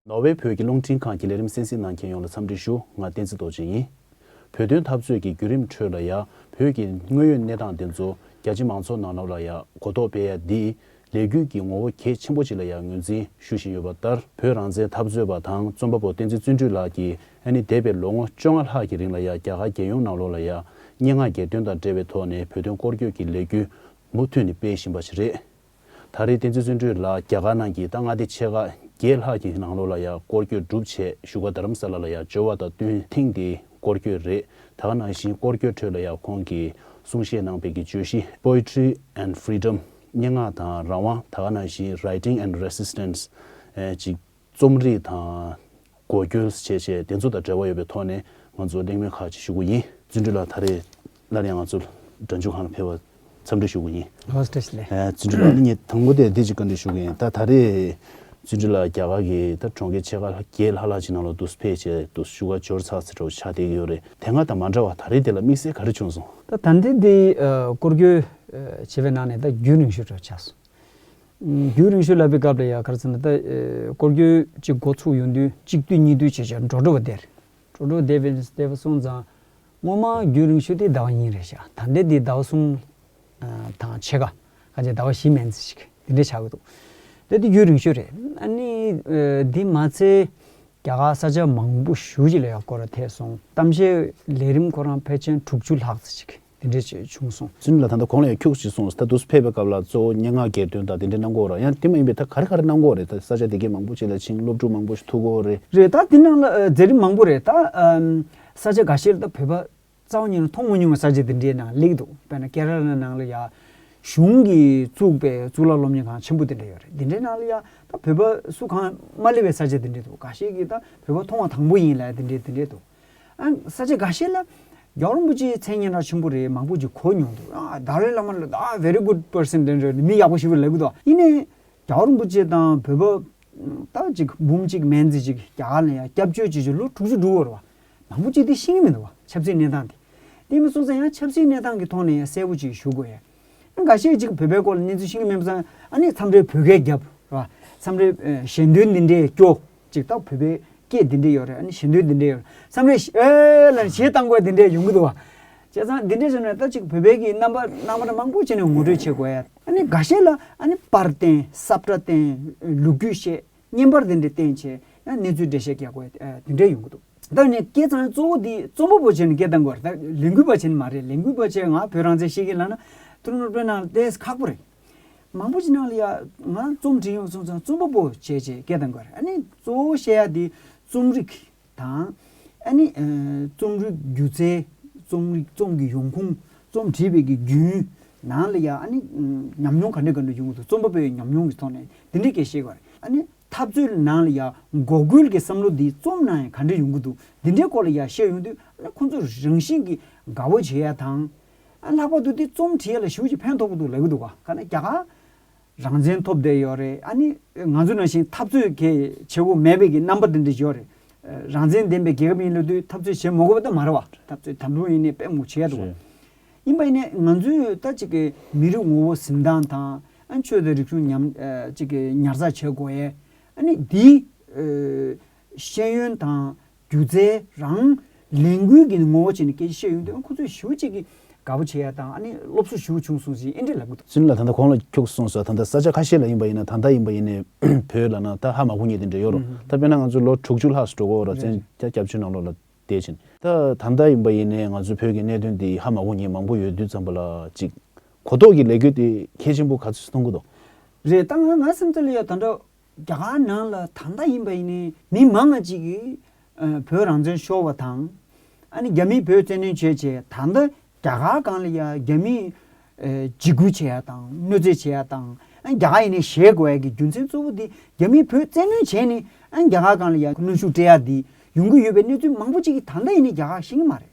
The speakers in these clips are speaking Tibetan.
ནོར་ཝེ་བོད་ཀྱི་རླུང་འཕྲིན་ཁང་གི་ལས་རིམ་གསན་གཟིགས་གནང་མཁན་ཡོངས་ལ་འཚམས་འདྲི་ཞུ། ང་བསྟན་འཛིན་རྡོ་རྗེ་ཡིན། བོད་དོན་འཐབ་རྩོད་ཀྱི་བརྒྱུད་རིམ་ཁྲོད་ལ་ཡ། བོད་ཀྱི་དངོས་ཡོད་གནས་སྟངས་འདི་ཚོ་རྒྱ་ཆེ་མང་ཚོགས་ནང་ལབ་ལ་ཡ་གོ་རྟོགས་སྤེལ་ཡ་འདིས། ལས་འགུལ་གྱི་ངོ་བོ་གལ་ཆེན་པོ་ཅིག་ལ་ཡ་ངོས་འཛིན་ཞུ་བཞིན་ཡོད་པ་ལྟར་བོད་རང་བཙན་འཐབ་རྩོད་པ་དང་རྩོམ་པ་པོ་བསྟན་འཛིན་བརྩོན་འགྲུས་ལགས་ཀྱིས་ཨ་ནི་འདས་པའི་ལོ་ངོ་བཅོ་ལྔ་ལྷག་གི་རིང་ལ་ཡང་རྒྱ་གར་རྒྱལ་ཡོངས་ནང་ལོགས་ལ་ཡང་སྙན་ངག་གྱེར་འདོན་དང་འབྲེལ་བའི་ཐོག་ནས་བོད་དོན་སྐོར་སྐྱོད་ཀྱི་ལས་འགུལ་མུ་མཐུད་ནས་སྤེལ་བཞིན་པ་ཞིག་རེད། ད་རེས་བསྟན་འཛིན་བརྩོན་འགྲུས་ལགས་རྒྱ་གར་ནང་གི་ད་མངའ་སྡེ་ཆེ་ཁག་བརྒྱད་ལྷག་གི་ནང་ལོགས་ལ་ཡང་སྐོར་སྐྱོད་སྒྲུབ་ཆེད་བཞུགས་པ་དྷ་རམ་ས་ལ་ལ་ཡང་འབྱོར་བ་དང་བསྟུན་ཐེངས་འདིའི་སྐོར་སྐྱོད་རེད་ད་ནང་བཞིན་སྐོར་སྐྱོད་ཁྲོད་ལ་ཡང་ཁོང་གིས་གསུང་བཤད་གནང་སྤེལ་གྱི་བརྗོད་གཞི Poetry and Freedom སྙན་ངག་དང་རང་དབང་ད་ནང་བཞིན Writing and Resistance། ཅིག་རྩོམ་རིག་དང། གོ་སྐྱོན། བཅས་བཅས་དེ་ཚོ་དང་འབྲེལ་བ་ཡོད་པའི་ཐོག་ནས་ང་ཚོ་གླེང་མོལ་ཁག་ཅིག་ཞུ་གི་ཡིན། བརྩོན་འགྲུས་ལགས་ད་རེས་སླར་ཡང་ང་ཚོ་སྒྲ་འཇུག་ཁང་ལ་ཕེབས་པར་འཚམས་འདྲི་ཞུ་གི་ཡིན། བཀྲ་ཤིས་བདེ་ལེགས། བརྩོན་འགྲུས་ལགས་ནི་ངས་དང་པོ་དེ་བདེ་སྐྱིད་བཀའ་འདྲི་ཞུ་གི་ཡིན་ད་ད་རེས་བརྩོན་འགྲུས་ལགས་རྒྱ་གར་གྱི་ད་གྲོང་ཁྱེར་ཕྱེད་ཀ་བརྒྱད་ལྷག་ལྷག་ཅིག་ནང་ལ་དུས་ཕེབས་བྱས་དུས་སུ་ཞུ་བ་འབྱོར་ཚགས་ཚེ་དྲོ་ཆ་བསྡད་ཀྱི་ཡོད་རེད་དེ་སྔ་དང་མ་འདྲ་བར་ད་རེས་དེ་ལ་དམིགས་བསལ་ག་རེ་བྱུང་སོང། ད་ད་ལྟའི་འདི་སྐོར་སྐྱོད་བྱེད་པའི་ནང་ནས་ད་རྒྱུན་རིང་ཞུ་དྲོ་ཆ་སོང། རྒྱུན་རིང་ཤོས་ལབ་པའི་སྐབས་ལ་ཡང་གར་ཚང་ནས་སྐོར་སྐྱོད་ཅིག་མགོ་ཚུགས་ཡོང་དུས་གཅིག་བསྡུས་གཉིས་བསྡུས་བྱས་བྱས་འགྲོ་འགྲོ་བ་བདེ། འགྲོ་འགྲོ་བ་བདེ་བས་བདེ་བ་སོང་ཙང། སྔོན་མ་རྒྱུན་རིང་ཤོས་དེའི་ཟླ་བ་གཉིས་རེད་བཞག་ད་ལྟའི་དེའི་ཟླ་བ་གསུམ། དང་ཕྱེད་ཀ། ཁ་ཆེ་ཟླ་བ་བཞི་མན་ཚེ་ཞིག་དེ་འདྲས་བྱ་གི་འདུག་དེ་དེ་རྒྱུན་རིང་ཤོས་རེད། ཨ་ནི། དེ་མ་ཚད། རྒྱ་གར་ས་ཆ་མང་པོ་བཞུགས་ཅིག་ལ་ཡང་སྐོར་བ་ཐལ་སོང། གཏམ་བཤད་ལས་རིམ་ཁོ་རང་ཕལ་ཆེན་དྲུག་ཅུ་ལྷག་ཙེ་ཞིག། དེ་འདྲའི་ཆེ་ཆུང་སོང། ཟིན་ལ་ད་ལྟ་གོང་ལ་ཡང་འཁྱུག་ཅིག་སོང་ད་དུས་ཕེབས་པའི་སྐབས་ལ་གཙོ་བོ་སྙན་ངག་གྱེར་འདོན་དང་དེ་འདྲའི་གནང་སྒོ་ར་ཡང་དེ་མ་ཡིན་པའི་ད་ག་རེ་ག་རེ་གནང་སྒོ་རེད་ད་ས་ཆ་དེ་གའི་མང་པོ་ཅིག་ལ་ཕྱིན་སློབ་ཕྲུག་མང་པོ་ཞིག་ཐུག་སྒོ་རེད། རེད་ད་དེ་གནང་ལ་མཛད་རིམ་མང་པོ་རེད་ད། ས་ཆ་ག་ཤེད་ལ་ད་བོད་པ་རྩ་བ་ཉིད་ནས་མཐོང་མ་མྱོང་བའི་ས་ཆ་དེ་འདྲའི་ནང་ལེགས་འདུག་དཔེར་ན་ཀེ་ར་ལ་ནང་ལ་ཡང་གཞུང་གིས་བཙུགས་པའི་གཙུག་ལག་སློབ་གཉེར་ཁང་ཆེན་པོ་དེ་འདྲ་ཡོད་རེད་དེ་འདྲའི་ནང་ལ་ཡང་ད་བོད་པ་སུ་གང་མ་སླེབས་པའི་ས་ཆ་དེ་འདྲ་འདུག་ག་ཤེད་ཀྱི་ད་བོད་པ་མཐོང་བ་དང་པོ་ཡིན་ལ་དེ་འདྲའི་དེ་འདྲའི་འདུག། ས་ཆ་འགའ་ཤས་ལ་རྒྱ་གར་རིན་པོ་ཆེའི་མཚན་སྙན་གྲགས་ཆེན་པོ་རེ་མང་པོ་ཞིག་གོ་མྱོང་འདུག་དཱ་ལའི་བླ་མ་ལ་དྭགས very good person རེད་འདྲ་མི་ཡག་པོ་ཞིག་པོ་ལེགས་པོ་འདུག་ཡིན་ནའི་རྒྱ་གར་རིན་པོ་ཆེ་དང་བོད་པ་ད་ཅིག་འབུམ་གཅིག་མན་ཙི་ཅིག་རྒྱ་གར་ལ་ཡང་སྐྱབས་བཅོལ་བྱེད་ཆོག་ལོ་དྲུག་ཅུ་དྲུག་བར་བ་མང་པོ་ཅིག་དེ་ཤེས་ཀྱི་མི་འདུག་བ་ཆབ་སྲིད་གནས་སྟངས་དེ་དེ་མི་སོང་ཙང་ཡང་ཆབ་སྲིད་གནས་སྟངས་ཀྱི་ཐོག་ནས་ཡང་གསལ་པོ་ཅིག་ཞུ་དགོས་ཡ། འགའ་ཤས་ཅིག་བོད་པའི་སྐོར་ལ་གནས་ཚུལ་ཤེས་ཀྱི་མེད་པ་ཚང་ཨ་ནི་མཚམས་རེར་བོད་སྐད་རྒྱབ་རེད་པ། མཚམས་རེར་གཞན་དོན་འདི་འདྲའི་སྐྱོ། ཅིག་ལྟ་བོད་པའི་སྐད་འདི་འདྲའི་ཡོད་རེད་ཨ་ནི་གཞན་དོན་འདི་འདྲའི་ཡོད་རེད་མཚམས་རེར་ཨེ་ལ་ཞེས་གཏམ་དགོས་འདི་འདྲའི་ཡོང་གི་འདུག་བ། བྱས་ཙང་འདི་འདྲའི་རིགས་ནི་ད་ཅིག་བོད་པའི་གི་རྣམ་པ་རྣམ་པ་མང་པོ་ཅིག་ནས་ངོ་སྤྲོད་བྱེད་དགོས། ཨ་ནི་འགའ་ཤས་ལ་ཨ་ནི་པར་བསྟན་སྲབ་སྒྲ་བསྟན་ལུག་རྒྱུད་བཤད། བརྙན་པར་དེ་འདྲའི་བསྟན་ཆེ་ཡང་གནས་ཚུལ་འགྲེལ་བཤད་རྒྱག་དགོས་དེ་འདྲས་ཡོང་གི་འདུག། ད་ནི་སྐད་གཙང་གཙོ་བོ་དེ་རྩོམ་པ་པོ་བྱས་ནས་སྐད་གདངས་དགོས་རེད་ད་ལས་འགུལ་བ་བྱས་ནི་མ་རེད་ལས་འགུལ་བ་བྱས་ང་བོད་རང་བཙན་ཤེས་ཀྱི་ལགས་ན་ཐུགས་སྣང་དཔོན་གནང་ལྟས་ཁག་པོ་རེད། མང་པོ་ཅི་གནང་ལ་ཡ་ང་རྩོམ་བྲིས་ཡོང་སོང་ཚང་རྩོམ་པ་པོ་བྱས་བྱས་སྐད་གདངས་དགོས་རེད་ཨ་ནི་གཙོ་བོ་བཤད་ཡ་དེ་རྩོམ་རིག། དང། ཨ་ནི། རྩོམ་རིག་སྒྱུ་རྩལ། རྩོམ་རིག་རྩོམ་གྱི་ཡོང་ཁུངས། རྩོམ་བྲིས་པའི་གི་རྒྱུན། ནང་ལ་ཡང་ཨ་ནི། ཉམས་མྱོང་ག་འདྲ་ག་འདྲ་བྱུང་གི་འདུག་རྩོམ་པ་པོའི་ཉམས་མྱོང་གི་ཐོག་ནས་འདི་འདྲའི་སྐད་བཤད་གི་རེད། ཨ་ནི། འཐབ་རྩོད་ནང་ལ་ཡང་འགོག་རྒོལ་གྱི་བསམ་བློ་འདི་རྩོམ་ནང་ཡང་ག་འདྲ་ཡོང་གི་འདུག་འདི་འདྲའི་སྐོར་ལ་ཡང་བཤད་ཡོང་དུས་ཨ་ནི་ཁོང་ཚོ་རང་བཞིན་གྱིས་དགའ་བོ་བྱེད་ཡ་དང། ཨ་ལྷག་པར་དུ་དེ་རྩོམ་བྲིས་ཡ་ལ་ཞུགས་ཀྱི་ཕན་ཐོགས་གི་འདུག་ལབ་གི་འདུག་ག་ནི་རྒྱ་གར། རང་བཙན་ཐོབ་བསྡད་ཡོད་རེད་ཨ་ནི་ང་ཚོ་ནང་བཞིན་འཐབ་རྩོད་གལ་ཆེ་བོ་མེད་པའི་གི་རྣམ་པ་དེ་འདྲ་ཞོག་རེད་རང་བཙན་ལྡན་པའི་རྒྱལ་ཁབ་ཡིན་ལ་དུས་འཐབ་རྩོད་བྱེད་མ་དགོས་པ་དུ་མ་རེད་བ་འཐབ་རྩོད་དམ་པོ་ཡིན་ནའི་དཔེ་མོ་བྱེད་དགོས་ཡིན་པ་ཡིན་ནའི་ང་ཚོས་ད་ཅིག་གི་མི་རིགས་ངོ་བོ་གཟིམ་ཐང་དང་ཨ་ཆོས་དང་རིག་གཞུང་ཉམས་ཅིག་གི་ཉར་ཚགས་བྱེད་དགོས་ཨ་ནི་དེའི་ཤེས་ཡོན་དང། སྒྱུ་རྩལ་རང། ལས་འགུལ་གྱི་ངོ་བོ་བྱས་ནས་སྐད་ཆ་བཤད་ཡོང་དུས་ཨ་ཁུ་ཚོས་ཞུ་གཅིག་གིས་དགའ་པོ་བྱེད་ཡ་དང་ཨ་ནེ་སློབ་གསོ་ཞུ་བྱུང་གསུངས་ཟིན་ཨེ་འདྲེ་ལབ་གི་འདུག། ཟིན་ལ་ད་ལྟ་གོང་ལ་འཁྱུག་སོང་ཟེར་བ་ད་ལྟ་ས་ཆ་ཁ་ཤས་ལ་ཡིན་པ་ཡིན་ན་ད་ལྟ་ཡིན་པ་ཡིན་ནས་བོད་ལ་ན་ད་ཧ་མ་གུ་ཉེ་དེ་འདྲེ་ཡོད་རོ་ད་དཔེར་ན་ང་ཚོ་ལོ་དྲུག་ཅུ་ལྷག་སྤྲོ་གོ་ར་བཙན་རྒྱ་སྐྱབས་བཅོལ་ནང་ལོག་ལ་བསྡད་ཕྱིན། ད་ད་ལྟ་ཡིན་པ་ཡིན་ནས་ང་ཚོ་བོད་ཀྱི་གནད་དོན་དེ་ཧ་མ་གུ་ཉེ་མང་པོ་ཡོད་དུས་ཙམ་པ་ལ་ཅིག་གོ་ལྡོག་གི་ལས་འགུལ་དེ་གལ་ཆེན་པོ་ག་ཚོད་སུ་གཏོང་གི་འདུག། རེད་ད་ང་ང་སེམས་ཚོར་ལ་ཡ་ད་འདྲ། རྒྱ་གར་ནང་ལ་ད་ལྟ་ཡིན་པ་ཡིན་ནའི་མི་མང་ང་གཅིག་གིས་བོད་རང་བཙན་ཤོར་བ་དང། ཨ་ནི་རྒྱ་མིས་བོད་བཙན་གནོན་བྱས་བྱས་ད་ལྟ་རྒྱ་གར་གང་ལ་ཡང་རྒྱ་མིས་འཇིགས་སྐུལ་བྱས་ཡ་དང་གནོད་འཚེ་བྱས་ཡ་དང་ཨ་ནི་རྒྱ་གར་ཡིན་ནའི་གཞལ་དགོས་ཡ་གི་རྒྱུ་མཚན་གཙོ་བོ་དེ་རྒྱ་མིས་བོད་བཙན་གནོན་བྱས་ནས་ཨ་ནི་རྒྱ་གར་གང་ལ་ཡང་གནོན་ཤུགས་སྤྲད་ཡ་དེ་ཡོང་གི་ཡོད་པའི་གནས་ཚུལ་མང་པོ་གཅིག་གིས་ད་ལྟ་ཡིན་ནའི་རྒྱ་གར་ཤེས་ཀྱི་མ་རེད།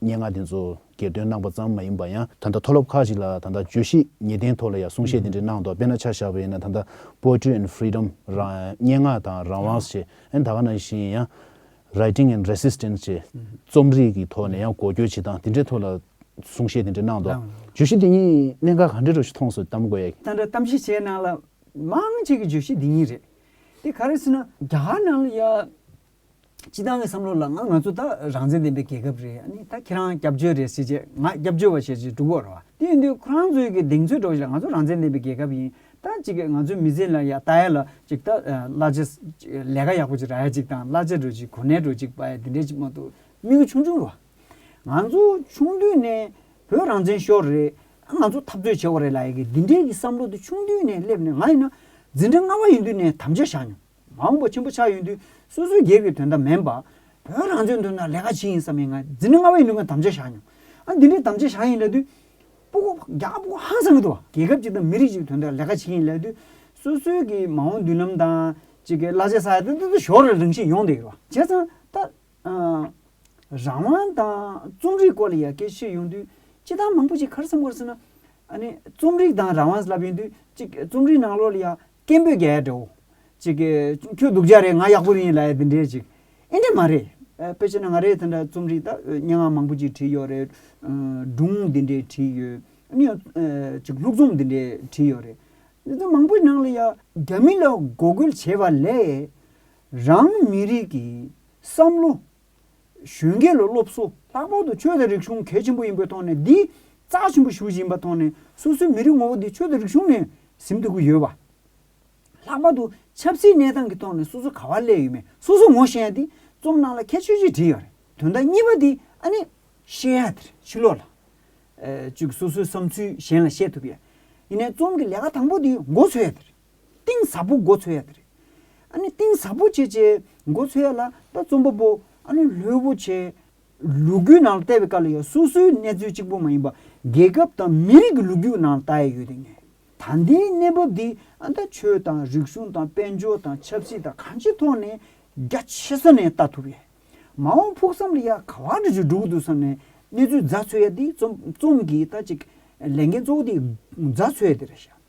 སྙན་ངག་དེ་ཚོ་གྱེར་འདོན་གནང་པ་ཙམ་མ་ཡིན་པ་ཡང་ད་ལྟ་མཐོ་སློབ་ཁག་ཅིག་ལ་ད་ལྟ་བརྗོད་གཞི་ངེས་གཏན་ཐོག་ལ་ཡང་གསུང་བཤད་དེ་འདྲའི་གནང་འདུག་དཔེར་ན་ཆ་བཞག་པ་ཡིན་ན་ད་ལྟ Poetry and Freedom སྙན་ངག་དང་རང་དབང་ཞེས་ཨན་ད་ག་ན་བཞིན་ཡང Writing and Resistance ཅེས་རྩོམ་རིག་གི་ཐོག་ནས་ཡང་གོ་སྐྱོད་བྱེད་སྟངས་དེ་འདྲའི་ཐོག་ལ་གསུང་བཤད་དེ་འདྲ་གནང་འདུག་བརྗོད་གཞི་འདི་གཉིས་གནད་འགག་ག་འདྲའི་ཐོག་ཞིག་མཐོང་སོང་གཏམ་དགོས་ཡ། ད་འདྲ་གཏམ་བཤད་བྱས་ནང་ལ་མང་ཆེ་གི་བརྗོད་གཞི་འདི་གཉིས་རེད། དེ་ག་རེ་ཟེར་ན་རྒྱ་གར་ནང་ལ་ཡང། སྤྱི་བཏང་གི་བསམ་བློ་ལ་ང་ང་ཚོ་ད་རང་བཙན་ལྡན་པའི་རྒྱལ་ཁབ་རེད་ཨ་ནི་ད་ཁྱེད་རང་སྐྱབས་བཅོལ་རེད་ཟེར་རྗེས་ང་སྐྱབས་བཅོལ་བ་ཞེས་ཅིག་སྒྲུབ་འོར་བ་དེ་ཡིན་དུས་ཁོ་རང་ཚོའི་གི་གདེང་ཚོད་སྒྲོག་བཞིན་ལ་ང་ཚོ་རང་བཙན་ལྡན་པའི་རྒྱལ་ཁབ་ཡིན་ད་ཅིག་གི་ང་ཚོའི་མི་ཚེ་ལ་ཡ་ད་ཡ་ལ་ཅིག་ད་གླ་ཆ་ལས་ཀ་ཡག་པོ་ཅིག་རག་ཡ་ཅིག་དང་གླ་ཆ་འགྲོ་ཅིག་གོ་གནས་འགྲོ་ཅིག་པ་ཡ་དེ་འདྲས་ཅིག་མ་གཏོགས་དམིགས་ཡུལ་ཆུང་ཆུང་རེད་བ། ང་ཚོ་ཆུང་དུས་ནས་བོད་རང་བཙན་ཤོར་རེད་ཨ་ང་ཚོ་འཐབ་རྩོད་བྱས་བ་རེད་ལ་ཡ་གི་འདི་འདྲས་གི་བསམ་བློ་དེ་ཆུང་དུས་ནས་སླེབས་ནས་ང་ཡིན་ན་འཛིན་གྲྭ་ལྔ་བ་ཡིན་དུས་ནས་དམ་བཅའ་བཞག་མྱོང། མང་པོ་ཆེན་པོ་ཆགས་ཡོད་དུས་སོ་སོའི་སྒེར་གྱི་དོན་དང་མེན་པ། བོད་རང་བཙན་དོན་དང་ལས་ཀ་ཇི་ཡིན་བསམ་མེད་ངང་འཛིན་གྲྭ་ལྔ་བའི་ནུས་པ་དམ་བཅའ་བཞག་མྱོང། ཨ་འདི་འདྲའི་དམ་བཅའ་བཞག་ཡིན་ལབ་དུས། སྤོ་སྒོ་རྒྱག་སྤོ་སྒོ་ཧང་སང་གི་འདུག་བ། རྒྱལ་ཁབ་ཅིག་དང་མི་རིགས་ཅིག་དོན་དང་ལས་ཀ་ཇི་ཡིན་ལབ་དུས། སོ་སོའི་གི་མ་འོངས་མདུན་ལམ་དང། ཅིག་གི་གླ་ཆ་ས་ཡ་ཏི་ཏི་ཏི་ཞོར་རེར་རིང་ཞིག་ཡོང་བསྡད་ཡོད་བ། བྱས་ཙང་ད། རང་དབང་དང་རྩོམ་རིག་སྐོར་ལ་ཡར་སྐྱེད་ཕྱིར་ཡོང་དུས། སྤྱི་བཏང་མང་པོ་ཅིག་ཁར་སེམས་ཁོར་སེ་ན། ཨ་ནི་རྩོམ་རིག་དང་རང་དབང་ཟླབ་ཡོང་དུས་ཅིག་རྩོམ་རིག་ནང་ལོགས་ལ་ཡ། སྐད་འབོད་རྒྱ་ཡལ་འདྲ་བོ། ཅིག། ཁྱོད་སྡུག་ཅག་རེད་ང་ཡག་པོ་རེད་ཡིན་ལ་འདི་འདྲའི་ཅིག། ཨེ་འདྲ་མ་རེད། དཔེ་ཆ་ན་ང་རེད་དེ་འདྲ་རྩོམ་རིག་དང་སྙན་ངག་མང་པོ་ཅིག་བྲིས་ཡོད་རེད། སྒྲུང་འདི་འདྲའི་བྲིས་ཡོད། ཨ་ནི་ཡང། ཅིག་ལྷུག་རྩོམ་འདི་འདྲའི་བྲིས་ཡོད་རེད། འདི་འདྲ་མང་པོའི་ནང་ལ་ཡང། རྒྱ་མི་ལ་འགོག་རྒོལ་བྱས་པ་ལས། རང་མི་རིགས་ཀྱི་བསམ་བློ། གཞོན་སྐྱེས་ལ་སློབ་གསོ་ལྷག་པར་དུ་ཆོས་དང་རིག་གཞུང་གལ་ཆེན་པོ་ཡིན་པའི་ཐོག་ནས་འདིས་རྩ་ཆེན་པོ་ཞུ་བཞིན་པ་ཐོག་ནས་སོ་སོའི་མི་རིགས་ངོ་བོ་དེ་ཆོས་དང་རིག་གཞུང་ནས་ཟིན་ཐུབ་ཀྱི་ཡོད་པ། ལྷག་པར་དུ་ཆབ་སྲིད་གནས་སྟངས་ཀྱི་ཐོག་ནས་སོ་སོ་ག་བ་སླེབས་ཡོད་མེད་སོ་སོ་ངོ་ཤེས་ཡ་དེ་རྩོམ་ནང་ལ་ཁྱད་ཆོས་གཅིག་བྲིས་ཡོད་རེད་དོན་དག་གཉིས་པ་དེ་ཨ་ནི། བཤད་ཡ་དེར་ཕྱི་ལོགས་ལ། བཅུག་སོ་སོའི་བསམ་ཚུལ་གཞན་ལ་བཤད་ཐུབ་ཡ། ཡིན་ནས་རྩོམ་གྱི་ལས་ཀ་དང་པོ་དེ་མགོ་འཚོས་ཡ་དེ་རེད། གཏིང་ཟབ་པོ་འགོ་འཚོལ་ཡ་དེ་རེད། ཨ་ནི་གཏིང་ཟབ་པོ་བྱེད་ཆེད་འགོ་འཚོལ་ཡ་ལ་ད་རྩོམ་པ་པོ་ཨ་ནི་ལྷོད་པོ་བྱས། ལུ་གུ་ནང་ལ་བལྟ་བའི་སྐབས་ལ་ཡང་སོ་སོའི་གནས་ཚུལ་གཅིག་པོ་མ་ཡིན་པ་རྒྱལ་ཁབ་དང་མི་རིགས་ཀྱི་ལུ་གུ་ནང་ལ་བལྟ་ཡ་ཡོད་དེ་ངས་ད་ལྟའི་གནས་བབ་འདི་ཨ་ད་ཆོས་དང་རིག་གཞུང་དང་དཔལ་འབྱོར་དང་ཆབ་སྲིད་དང་གང་ཅིའི་ཐོག་ནས་རྒྱ་ཆེ་ས་ནས་བལྟ་ཐུབ་ཡས། མ་འོངས་ཕུགས་བསམ་ལ་ཡ་ག་བ་འདྲ་ཞིག་འགྲུབ་ཀྱི་འདུག་བསམ་ནས་གནས་ཚུལ་རྫ་འཚོལ་ཡ་འདི་རྩོམ་གྱི་ད་ཅིག་ལས་འགན་གཙོ་བོ་འདི་རྫ་འཚོལ་ཡ་དེ་རེད་བཞག།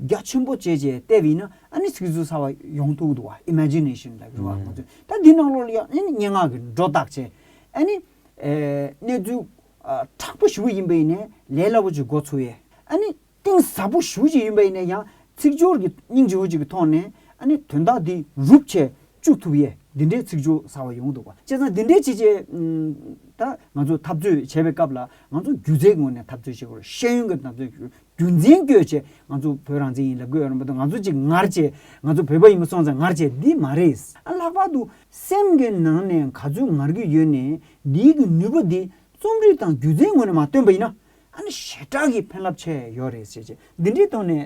རྒྱ་ཆེན་པོ་བྱས་བྱས་བལྟས་པ་ཡིན་ན་ཨ་ནི་ཚིག་རྩུབ་ཚ་བ་ཡོང་ཐུག་འདུག་བ Imagination ལྟ་བུའི་བ་ང་ཚོས་ད་འདི་ནང་ལོགས་ལ་ཡང་ཨ་ནི་སྙན་ངག་གི་སྒྲོ་བཏགས་བྱས་ཨ་ནི་གནས་ཚུལ་དྲག་པོ་ཞུ་ཡིན་པ་ཡིན་ནས་ལས་སླ་པོ་ཅིག་འགོ་ཚུགས་ཡས་ཨ་ནི་གཏིང་ཟབ་པོ་ཞུ་ཅིག་ཡིན་པ་ཡིན་ནས་ཡང་ཚིག་སྦྱོར་གྱི་སྙིང་རྗེ་བོ་ཅིག་གི་ཐོག་ནས་ཨ་ནི་དོན་དག་འདི་རུབ་བྱས་བཅུག་ཐུབ་ཡས་འདི་འདྲའི་ཚིག་སྦྱོར་ཚ་བ་ཡོང་འདུག་བ་བྱས་ཙང་འདི་འདྲའི་བྱས་བྱས་ད་ང་ཚོས་འཐབ་རྩོད་བྱས་པའི་སྐབས་ལ་ང་ཚོ་སྒྱུ་རྩལ་ངོས་ནས་འཐབ་རྩོད་བྱེད་དགོས་རེད་ཤེས་ཡོན་གྱི་འཐབ་རྩོད་རྒྱུ་མཚན་བསྐྱོད་ཆེད་ང་ཚོ་བོད་རང་བཙན་ཡིན་ལ་དགོས་ཡོད་རུང་མ་གཏོགས་ང་ཚོ་ཅིག་ངར་བྱས་ང་ཚོ་བོད་པ་ཡིན་པ་སོང་ཙང་ངར་བྱས་འདི་མ་རེད། ལྷག་པར་དུ་སེམས་ཀྱི་ནང་ནས་ག་ཚོད་ངར་གྱི་ཡོད་ནས་འདིའི་གི་ནུས་པ་འདི་རྩོམ་རིག་དང་སྒྱུ་རྩལ་ངོས་ནས་མ་བཏོན་པ་ཡིན་ན་ཨ་ནི་ཞེ་དྲག་གི་ཕན་རླབས་ཆེ་ཡོད་རེད་ཟེར་ཆེད་འདི་འདྲའི་ཐོག་ནས་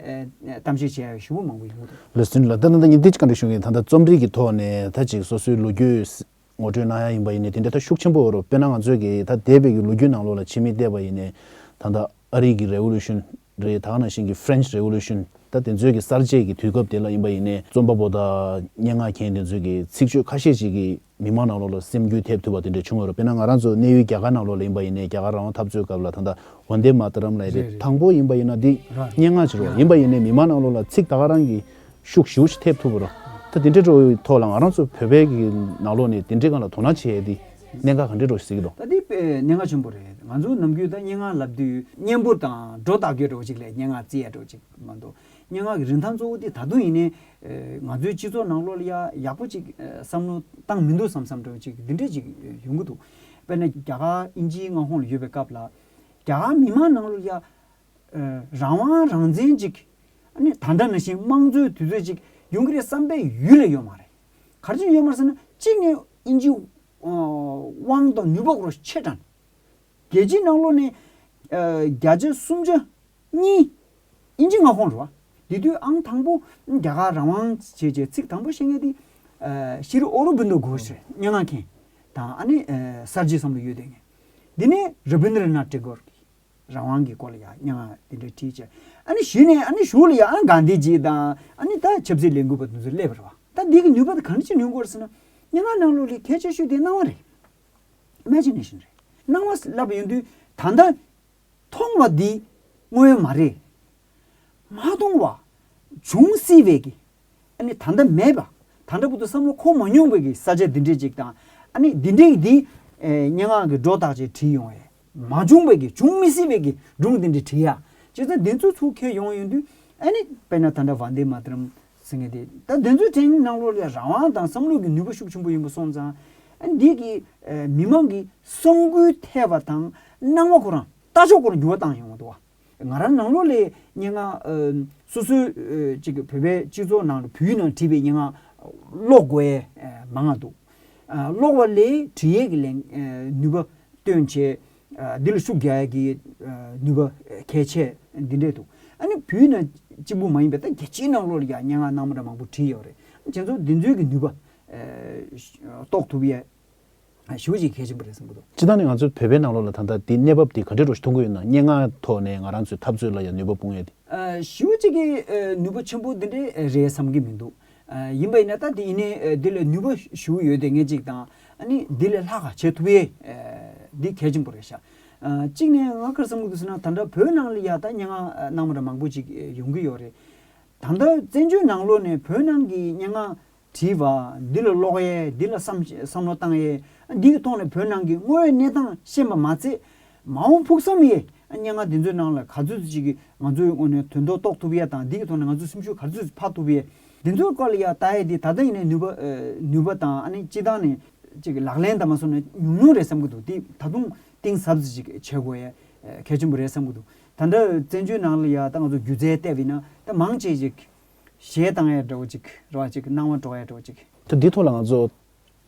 གཏམ་བཤད་བྱས་ཞུ་བ་མང་པོ་ཡོད། ལོ་སུན་ལོ་ཏི་ལ་ད་ཉིན་དེ་ཅིག་ག་འདྲ་བྱུང་གི་ད་ལྟ་རྩོམ་རིག་གི་ཐོག་ནས་ད་ཅིག་སོ་སོའི་ལོ་རྒྱུས། ངོ་སྤྲོད་གནང་ཡག་ཡིན་པ་ཡིན་ནའི་དེ་འདྲའི་ཐབས་ཤུགས་ཆེན་པོ་རུ་དཔེར་ན་ང་ཚོས་ཀྱི་ད་ལྟའི་བོད་ཀྱི་ལོ་རྒྱུས་ནང་ལོགས་ལ་ཕྱི་མིག་བལྟས་པ་ཡིན་ནའི་ད་ལྟ་ཨ་རིག་གི Revolution རེད་དག་ན་བཞིན་གྱི French Revolution ད་དེ་ཚོའི་གྱི་གསར་བརྗེས་ཀྱི་དུས་སྐབས་དེ་ལ་ཡིན་པ་ཡིན་ནའི་རྩོམ་པ་པོ་དང་སྙན་ངག་མཁན་དེ་ཚོས་ཀྱི་ཚིག་བརྗོད་ཁ་ཤས་ཅིག་གིས་མི་མང་ནང་ལོགས་ལ་སེམས་འགྱུས་ཐེབས་ཐུབ་པ་དེ་འདྲ་བྱུང་བ་རུ་དཔེར་ན་ང་རང་ཚོ་གནས་ཡུལ་རྒྱ་གར་ནང་ལོགས་ལ་ཡིན་པ་ཡིན་ནའི་རྒྱ་གར་རང་དབང་འཐབ་རྩོད་སྐབས་ལ་ད་ལྟ Vande Mataram ལ་ཡིན་པའི་དང་པོ་ཡིན་པ་ཡིན་ན་འདི་སྙན་ངག་ཅིག་རོ་ཡིན་པ་ཡིན་ནའི་མི་མང་ནང་ལོགས་ལ་ཚིག་ད་ག་རང་གི་ཤུགས་ཞུགས་ཤིག་ཐེབས་ཐུབ་པར། ད་དེ་འདྲའི་ཐོག་ལ་ང་རང་ཚོ་བོད་པའི་ནང་ལོགས་ནས་དེ་འདྲའི་སྐོར་ལ་དོ་སྣང་བྱེད་ཡས་དེ་གནད་འགག་གང་འདྲའི་རོ་ཞིག་གཟིགས་ད་གདའ། གནད་འགག་ཆེན་པོ་རེད་ང་ཚོ་ནམ་རྒྱུན་ད་སྙན་ངག་ལབ་དུས་སྙན་པོ་དང་སྒྲོ་བཏགས་ཀྱི་རོ་ཞིག་ལས་སྙན་ངག་བརྩི་ཡས་རོ་ཞིག་མ་འདུག་སྙན་ངག་གི་རིན་ཐང་གཙོ་བོ་དེ་ད་དུང་ཡིན་ནའི། ང་ཚོའི་སྤྱི་ཚོགས་ནང་ལོགས་ལ་ཡ་ཡག་པོ་ཅིག་བསམ་བློ་བཏང་མི་འདུག་བསམ་བསམ་རེ་བ་ཅིག་འདི་འདྲའི་ཅིག་ཡོང་གི་འདུག་དཔེར་ན་རྒྱ་གར་དབྱིན་ཇིའི་མངའ་ཁོངས་ལ་ཡོད་པའི་སྐབས་ལ། རྒྱ་གར་མི་མང་ནང་ལོགས་ལ་ཡ། རང་དབང་རང་བཙན་ཅིག་ནི་ད་འདྲ་ན་ཞིང་དམངས་གཙོའི་དུས་ཚོད་ཅིག་ཡོང་གི་རེད་བསམ་པའི་ཡུལ་ལ་ཡོད་མ་རེད། ག་ཚོད་ཡོད་མ་ཟེར་ན་གཅིག་ནི་དབྱིན་ཇི་དབང་དང་ནུས་པ་ཁོ་རང་ཆེ་དྲགས་ནས། རྒྱལ་སྤྱིའི་ནང་ལོ་ནི་བརྒྱ་ཆ་སུམ་ཅུ་གཉིས་དབྱིན་ཇི་མངའ་ཁོངས་རེད་བ། དེ་དུས་ཨང་དང་པོ་རྒྱ་གར་རང་དབང་བྱེད་ཅེས་ཚིག་དང་པོ་བཤད་མཁན་དེ་ཤི་རི་ཨོ་རུ་བིན་དོ་གྷོས་རེད་སྙན་ངག་མཁན་དང་ཨ་ནི་གསར་བརྗེ་བསམ་བློ་ཡོད་དོན་མཁན། དེ་ནས་ར་བིན་དི་རི་ནཱ་ཏྲེ་གོར། རང་དབང་གི་སྐོར་ལ་ཡང་སྙན་ངག་འདི་འདྲ་བྲིས་བྱས། ཨ་ནི་ཞུས་ནས་ཨ་ནི་ཞུ་ལ་ཡང་ཨ་གང་འདི་བྱས་དང་ཨ་ནི་ད་ཆབ་སྲིད་ལས་འགུལ་པ་དེ་ཚོ་སླེབས་རེད་བ་ད་འདི་གི་ནུས་པ་དེ་གང་ཅི་ནུས་སྐོར་ཟེར་ན། སྙན་ངག་གནང་ལུགས་ལས་གལ་ཆེ་ཤོས་དེ་སྣང་བ་རེད། Imagination། རེད། སྣང་བ་བསླབ་པ་ཡོང་དུས་ད་ལྟ་མཐོང་བ་འདི་དངོས་ཡོད་མ་རེད། མ་མཐོང་བ། བྱུང་སྲིད་པའི་གི། ཨ་ནི་ད་ལྟ་མེད་པ། ད་ལྟ་བུ་དུ་བསམ་བློ་འཁོར་མ་མྱོང་པའི་གི་ས་ཆ་འདི་འདྲས་ཅིག་དང་ཨ་ནི་འདི་འདྲས་ཀྱི་འདི་སྙན་ངག་གི་སྒྲོ་བཏགས་ཅིག་བྲིས་ཡོང་བས། མ་བྱུང་བས་ཀྱི་འབྱུང་མི་སྲིད་བས་ཀྱི་སྒྲུང་འདི་འདྲའི་བྲིས་ཡ། སྤྱིར་ད་དེ་ཚོའི་ཚུགས་ཁས་ཡོང་ཡོང་དུས་ཨ་ནི་དཔེར་ན་ད་འདྲ་བ་འདི་མ་བྲིས་རམ་ཟེར་ངེས་ཏེ། ད་དེ་ཚོའི་དྲན་སྣང་ལོ་ལེགས་རང་དབང་དང་བསམ་བློ་གི་ནུས་པ་ཤུགས་ཆེན་པོ་ཡིན་པ་སོང་ཙང། ཨ་འདི་གིས་མི་མང་གི་བསམ་དགུའི་འཐད་པ་དང་སྣང་བ་ཁོ་རང་ལྟ་ཕྱོགས་སྐོར་འགྱུར་བ་བཏང་ཡོང་བ་འདུག་བ། ང་རང་ནང་ལོགས་ལས་སྙན་ངག། སོ་སོའི། ཅིག་བོད་པའི་སྤྱི་ཚོགས་ནང་ལ་བུའི་ནང་བྲིས་པའི་སྙན་ངག། ཀློག་དགོས་ཡས་མང་ང་འདུག། ཀློག་བ་ལས་བྲིས་ཡས་ཀྱི་ལན། ནུས་པ། སྟོན་བྱེད། འདི་ལ་ཤུགས་རྒྱག་ཡས་ཀྱི། ནུས་པ། གལ་ཆེ། འདི་འདྲས་འདུག། ཨ་ནི་བུའི་ནང། གཅིག་པུ་མ་ཡིན་པའི་ད་རྒྱལ་སྤྱིའི་ནང་ལོགས་ལ་ཀྱང་སྙན་ངག་སྣང་མ་འདྲ་མང་པོ་བྲིས་ཡས་རེད། དེ་ཚོ་འདི་ཚོའི་ཀྱི་ནུས་པ། རྟོགས་ཐུབ་ཡས་ཞུ་ཞིག་གལ་ཆེན་པོ་རེད་བསམ་གྱི་འདུག། སྤྱི་བཏང་ནི་ང་ཚོའི་བོད་པའི་ནང་ལོགས་ལ་ད་ལྟ་འདི་གནས་བབ་འདི་ག་འདྲའི་རོ་ཞིག་མཐོང་གི་ཡོད་ན་སྙན་ངག་ཐོག་ནས་ང་རང་ཚོའི་འཐབ་རྩོད་ལ་ཡང་ནུས་པ་སྤུངས་ཡོད་དེ། ཞུ་ཞིག་གི་ནུས་པ་ཆེན་པོ་འདི་འདྲའི་རེད་བསམ་གྱི་མི་འདུག་ཡིན་པ་ཡིན་ན་ད་དེ་ཡིན་ནའི་འདི་ལ་ནུས་པ་ཞུ་ཡོད་དེ་ངས་གཅིག་དང་ནི་འདི་ལས་ལྷག་ག་བྱེད་ཐུབ་ཡེ་འདི་གལ་ཆེན་པོ་རེད་ཤག་གཅིག་ནས་ང་ཁར་བསམ་གྱི་འདུག་ཟེར་ན་ད་དྲ་བོད་ནང་ལ་ཡང་ད་སྙན་ངག་གནང་བ་ར་མང་པོ་ཅིག་ཡོང་གི་ཡོད་རེད་ད་ད་བཙན་བྱོལ་ནང་ལོགས་ནས་བོད་ནང་གི་སྙན་ངག་དྲིས་པ། འདི་ལ་ཀློག་ཡས་འདི་ལ་བསམ་བསམ་བློ་བཏང་ཡས། འདི་ཡི་ཐོག་ནས་བོད་ནང་གི་དངོས་ཡོད་གནས་སྟངས་ཤེས་པ་མ་ཚད། མ་འོངས་ཕུགས་བསམ་ཡས། སྙན་ངག་འདི་ཚོའི་ནང་ལ་ག་ཚོད་ཅིག་གིས་ང་ཚོའི་དངོས་ནས་དོན་དོ་རྟོགས་ཐུབ་ཡས་དང་འདི་ཡི་ཐོག་ནས་ང་ཚོའི་སེམས་ཤུགས་ག་ཚོད་ཅིག་འཕགས་ཐུབ་ཡས། འདི་ཚོའི་སྐོར་ལ་ཡ་ལྟ་ཡས་དེ་ད་ལྟ་ཡིན་ནའི་ནུས་པ་ནུས་པ་དང་ཨ་ནི་སྤྱི་བཏང་ནས་ཅིག་གི་ལག་ལེན་དང་མ་སོང་ན་ཉུང་ཉུང་རེད་བསམ་གྱི་འདུག་དེ་ད་དུང་གཏིང་ཟབ་ཅིག་ཅིག་བྱེད་དགོས་ཡས་གལ་ཆེན་པོ་རེད་བསམ་གྱི་འདུག་ད་འདྲ་བཙན་བྱོལ་ནང་ལ་ཡ་ད་ང་ཚོ་སྒྱུ་རྩལ་སྟེགས་ཡིན་ན་ད་མང་ཆེ་ཞིག་ཞེས་བཏང་ཡས་འགྲོ་ཅིག་འགྲོ་བ་ཅིག་སྣང་བ་འགྲོ་ཡས་འགྲོ་ཅིག། ད་འདི་ཐོག་ལ་ང་ཚོ་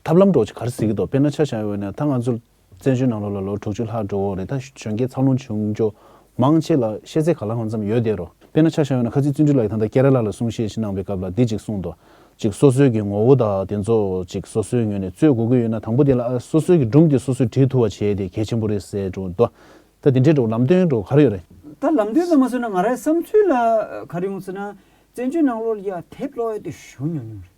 ཐབས་ལམ་འགྲོ་ཅིག་གར་གཟིགས་ཀྱི་འདུག་དཔེར་ན་ཆ་བཞག་ཡོད་ན་ད་ང་ཚོ་བཙན་བྱོལ་ནང་ལོ་ལ་ལོ་དྲུག་ཅུ་ལྷག་འགྲོ་འོག་རེད་ད་གཞོན་སྐྱེས་འཚར་ལོངས་བྱུང་རྒྱུ་མང་ཆེ་ལ་ཤེས་ཚད་ག་ལ་ཧང་ཙམ་ཡོད་བསྡད་རོགས་དཔེར་ན་ཆ་བཞག་ཡོད་ན་ཁ་ཆེ་བཙུན་ཁྲི་ལགས་ཀྱིས་ད་ལྟ་ཀེ་ར་ལ་ལ་གསུང་བཤད་ཞིག་གནང་བའི་སྐབས་ལ་འདི་ཅིག་གསུངས་འདུག་ཅིག་སོ་སོའི་གི་ངོ་བོ་དག་དེ་ཚོ་ཅིག་སོ་སོའི་ངོས་ནས་རྩོད་དགོས་ཀྱི་ཡོད་ན་དང་པོ་དེ་ལ་ཨ་སོ་སོའི་གི་སྒྲུང་དེ་སོ་སོས་བྲིས་ཐུབ་བ་བྱས་དེ་གལ་ཆེན་པོ་རེད་ཟེར་འདུག་ད་དེ་འདྲའི་འགྲོ་ལམ་སྟོན་འགྲོ་གར་ཡོད་རེད། ད་ལམ་སྟོན་ཙམ་མ་བཟོས་ན་ང་རའི་བསམ་ཚུལ་ལ་གར་ཡོང་ཟེར་ན། བཙན་བྱོལ་ནང་ལོ་ལིའི་དེབ་གློག་ཡོད་དེ་ཞུ་ཉུང་ཉུང་རེད།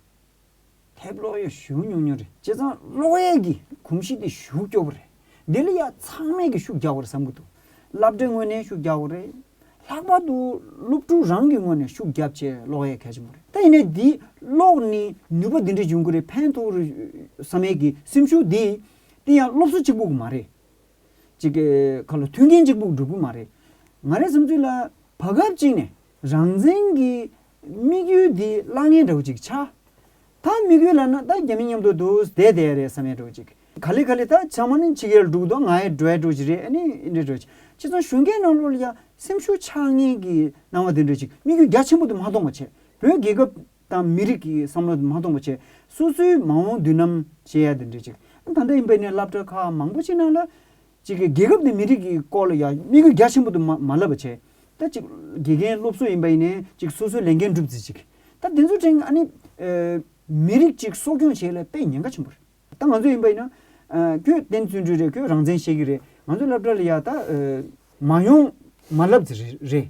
དེབ་གློག་ཡོད་ཞུ་ཉུང་ཉུང་རེད་བྱས་ཙང་གློག་ཡོད་ཀྱི་གོམས་གཤིས་དེ་ཞུ་སྐྱོ་པོ་རེད། དེ་ལ་ཡང་ཚང་མས་ཀྱི་ཤུགས་རྒྱག་དགོས་རེད་བསམ་གྱི་འདུག་བསླབ་གྲྭའི་ངོས་ནས་ཤུགས་རྒྱག་དགོས་རེད། ལྷག་པར་དུ་སློབ་ཕྲུག་རང་གི་ངོས་ནས་ཤུགས་རྒྱབ་ཆེད་གློག་ཡོད་གལ་ཆེན་པོ་རེད། ད་ཡིན་ནའི་འདིའི་གློག་ནི་ནུས་པ་འདི་འདྲའི་འབྱུང་གི་རེད་ཕན་ཐོག་རེད་བསམ་ཡས་ཀྱི་སེམས་ཤུགས་འདི་དེ་ཡང་སློབ་གསོ་གཅིག་པུ་མ་རེད། གཅིག་གི་ཁ་ལོ་ཐུལ་མཁན་གཅིག་པུ་འགྲོ་གི་མ་རེད། ང་རའི་བསམ་ཚུལ་ལ། བར་སྐབས་གཅིག་ནས་རང་བཙན་གྱི་དམིགས་ཡུལ་འདི་གླགས་ངན་འདྲ་བོ་ཅིག་ཆགས། ད་དམིགས་ཡུལ་ལ་ན་ད་རྒྱ་མི་མཉམ་དུ་འདུག་བསྡད་བསྡད་ཡ་རེད་བསམ་ཡ་འགྲོ་ཅིག། ག་ལེ་ག་ལེ་ད་ཚང་མ་ནི་ཕྱི་རྒྱལ་འགྲོ་གི་འདུག་ང་ཡི་འགྲོ་ཡ་འགྲོ་ཅིག་རེད་ཨ་ནི་འདྲ་འགྲོ་ཅིག་ཅི་ཙང་གཞུང་སྒེར་ནང་ལོགས་ལ་ཡང་སེམས་ཤུགས་ཆགས་ངན་གྱི་སྣང་བ་འདི་འགྲོ་ཅིག་དམིགས་ཡུལ་རྒྱ་ཆེན་པོ་དེ་མ་གཏོང་བ་བྱས་བོད་རྒྱལ་ཁབ་དང་མི་རིགས་ཀྱི་བསམ་བློ་མ་སྟོང་པ་བྱས། སོ་སོའི་མ་འོངས་མདུན་ལམ་བྱེད་ཡ་དེ་འདྲས་ཅིག་ཨ་ད་ལྟ་ཡིན་པས་ནས་བསླབ་གྲྭ་ཁག་མང་པོ་ཆེ་ནང་ལ། ཅིག་གིས་རྒྱལ་ཁབ་དེ་མི་རིགས་ཀྱི་སྐོར་ལ་ཡ་དམིགས་རྒྱ་ཆེན་པོ་དུ་མ་མ་བསླབ་པ་བྱས། ད་ཅིག་དགེ་རྒན་སློབ་གསོ་ཡིན་པ་ཡིན་ནས་ཅིག་སོ་སོའི་ལས་འགན་སྒྲུབ་རྩིས་ཅིག་ད་དེ་ཚོ་ཕྲན་ཨ་ནི། མི་རིགས་ཅིག་གསོ་སྐྱོང་བྱེད་ལ་དཔེ་ཉེན་ཁ་ཆེན་པོ་རེད། ད་ང་ཚོ་ཡིན་པ་ཡིན་ན། ཁྱོད་བསྟན་བརྩོན་འགྲུས་རེད་ཁྱོད་རང་བཙན་བཤད་ཀྱི་རེད་ང་ཚོ་བསླབ་གྲྭ་ལ་ཡ་ད། མ་ཡོང་མ་བསླབ་རྩིས་རེད།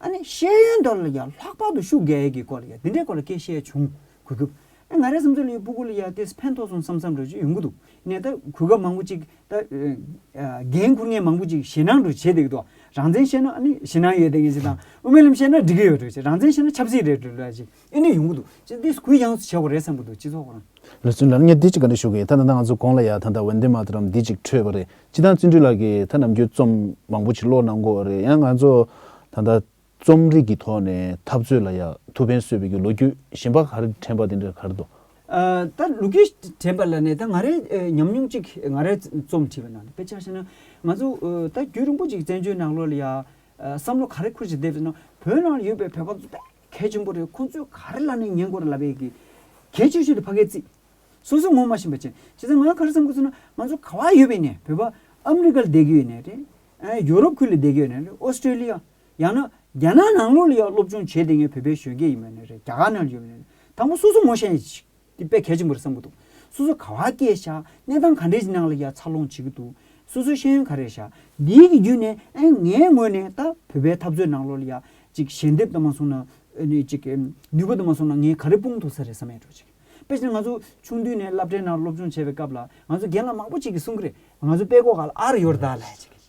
ཨ་ནི་ཤེས་ཡོན་དོར་ལ་ཡང་ལྷག་པར་དུ་ཤུགས་རྒྱག་ཡས་ཀྱི་སྐོར་ལ་ཡང་འདི་འདྲའི་སྐོར་ལ་སྐད་བཤད་བྱུང། གུས་སྐུ། ཨ་ང་རའི་བསམ་ཚུལ་ལ་ཡང་སྤུ་གུ་ལ་ཡང་དེས་ཕན་ཐོགས་སོང་བསམ་བསམ་འགྲོ་ཅི་ཡོང་གི་འདུག་ནས་ད་གུས་སྐབས་མང་པོ་ཅིག་ད་འགན་འཁུར་ངེས་མང་པོ་ཅིག་ཞེད་སྣང་འགྲོ་བྱེད་དེ་གི་འདུག་རང་བཙན་བཤད་ན་ཨ་ནི་ཞེད་སྣང་ཡོད་དེ་གི་ཅིག་དང་དབུ་མའི་ལམ་བཤད་ན་འགྲིག་གི་ཡོད་འགྲོ་བྱེད་རང་བཙན་བཤད་ན་ཆབ་སྲིད་རེད་འགྲོ་ཅིག། ཨེ་ནས་ཡོང་གི་འདུག་སྤྱི་འདི་སྐུའི་ཡང་བྱས་བ་རེད་བསམ་གི་འདུག་སྤྱི་ཚོགས་རང། ལོ་ཚུན་ལར་ངས་འདི་གཅིག་ག་འདྲ་ཞུ་གི་ད་ད་ལྟ་ང་ཚོ་དགོངས་ལ་ཡ་ད་ད Vande Mataram འདི་གཅིག་འཕྲོས་པ་རེད་སྤྱི་དང་བརྩོན་འགྲུས་ལགས་ཀྱི་ད་ནམ་རྒྱུན་རྩོམ་མང་པོ་ཅིག་ཀློག་གནང་དགོས་རེད་ཡང་ང་ཚོ་ད་ད་རྩོམ་རིག་གི་ཐོག་ནས་འཐབ་རྩོད་ལ་ཡ་ཐུབ་ཕན་སོས་པའི་རྒྱུ་ལོ་རྒྱུས་གཞན་པ་གར་དྲན་པ་དེ་འདྲ་གར་འདུག། ད་ལོ་རྒྱུས་དྲན་པ་ལ་ནས་ད་ང་རས་ཉམས་མྱོང་ཅིག་ང་རས་རྩོམ་བྲིས་པ་ན་དཔེ་ཆ་ཤེ་ན་ང་ཚོ་ད་རྒྱུས་རིང་པོ་ཅིག་བཙན་བྱོལ་ནང་ལོ་ལ་ཡ་བསམ་བློ་ག་རེ་འཁུར་བཞིན་བསྡད་པ་ཟེར་ན་བོད་ནང་ལ་ཡོད་པའི་བོད་པ་ཚོ་དཔེ་གལ་ཆེན་པོ་རེད་ཁོང་ཚོས་ག་རེ་ལབ་ནས་ཉན་དགོས་རེད་ལབ་པའི་གལ་ཆེ་ཤོས་དེ་ཕ་གའི་རྩིས། སོ་སོས་ངོ་མ་ཤེས་པ་བྱས། བྱས་ཙང་ང་ག་རེ་བསམ་དགོས་ཚུལ་ན་ང་ཚོ་ག་བ་ཡོད་པའི་ནས་བོད་པ་ཨ་མི་རི་ཀ་ལ་བསྡད་ཀྱི་ཡོད་ནས་རེད། ཡོ་རོབ་ཁུལ་ལ་བསྡད་ཀྱི་ཡོད་ནས་རེད་ཨོ་སི་ཀྲེ་ལི་ཡ། ཡང་ན་རྒྱ་ནག་ནང་ལུགས་ལ་ཡང་སློབ་སྦྱོང་བྱས་ཏེ་ངས་བོད་པའི་གཞོན་སྐྱེས་ཡིན་པ་ནས་རེད་རྒྱ་གར་ནང་ལ་ཡོད་པ་ནས་རེད་དང་པོ་སོ་སོ་ངོ་ཤེས་ཤིག། འདི་དཔེ་གལ་ཆེན་པོ་རེད་བསམ་གྱི་འདུག་སོ་སོ་ག་བ་སྐྱེས་བཞག་གནས་སྟངས་ག་འདྲའི་གྱི་ནང་ལ་ཡར་འཚར་ལོངས་བྱེད་ཀྱི་འདུག་སོ་སོའི་ཤེས་ཡོན་ག་རེ་རེད་བཞག་འདིའི་གྱི་བརྒྱུད་ནས་ཨེ་ངའི་ངོས་ནས་ད་བོད་པའི་འཐབ་རྩོད་ནང་ལོ་ལ་ཡ་ཅིག་ཞལ་འདེབས་ད་མ་སོང་ན་ནུས་པ་ད་མ་སོང་ན་ངས་ག་རེ་སྤུངས་ཐུབ་ས་རེད་བསམ་ཡས་འགྲོ་ཅིག་དཔེ་བྱས་ན་ང་ཚོ་ཆུང་དུས་ནས་བསླབ་གྲྭའི་ནང་སློབ་སྦྱོང་བྱས་པའི་སྐབས་ལ་ང་ཚོ་རྒན་ལགས་མང་པོ་ཅིག་གིས་གསུངས་ཀྱི་རེད་ང་ཚོ་དཔེ་ཀོ་ག་ལ་ཨར་ཡོར་ད་ལ་ཡ་ཅིག་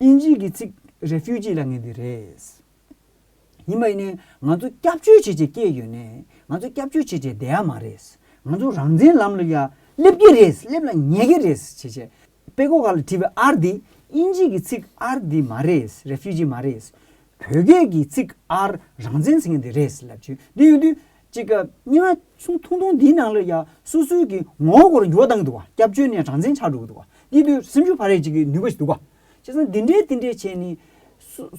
དབྱིན་ཇིས་ཀྱི་ཚིག Refugee ལ་ངེས་འདི་རེད། ཡིན་པ་ཡིན་ནའི་ང་ཚོ་སྐྱབས་བཅོལ་བྱེད་ཆེད་སྐྱེས་ཡོད་ནའི་ང་ཚོ་སྐྱབས་བཅོལ་བྱེད་ཆེད་བསྡད་ཡ་མ་རེད། ང་ཚོ་རང་བཙན་ལམ་ལ་ཡ་སླེབས་ཀྱི་རེད་སླེབས་ལ་ཉེ་གི་རེད་བྱེད་ཆེད་པེ་ཀོ་ཁ་ལ་བྲིས་པའི་ཨར་འདི་དབྱིན་ཇིས་ཀྱི་ཚིག་ཨར་འདི་མ་རེད Refugee མ་རེད། བོད་སྐད་ཀྱི་ཚིག་ཨར་རང་བཙན་ཟེར་ངེས་འདི་རེད་ལབ་ཀྱི་འདི་ཡོད་དུས། ཅིག། རྙི་བ་ཆུང་ཐུང་ཐུང་འདིའི་ནང་ལ་ཡང་སུ་སུའི་གི་ངོ་བོར་འགྱུར་བ་བཏང་འདུག་བ་སྐྱབས་བཅོལ་ནས་གྲངས་འཛིན་ཆགས་འགྲོ་གི་འདུག་བ་འདི་དུས་སེམས་ཤུགས་ཕ་རས་ཅིག་གི་ནུས་པ་ཞིག་འདུག་བ། བྱས་ཙང་འདི་འདྲའི་དེ་འདྲའི་བྱས་ནས།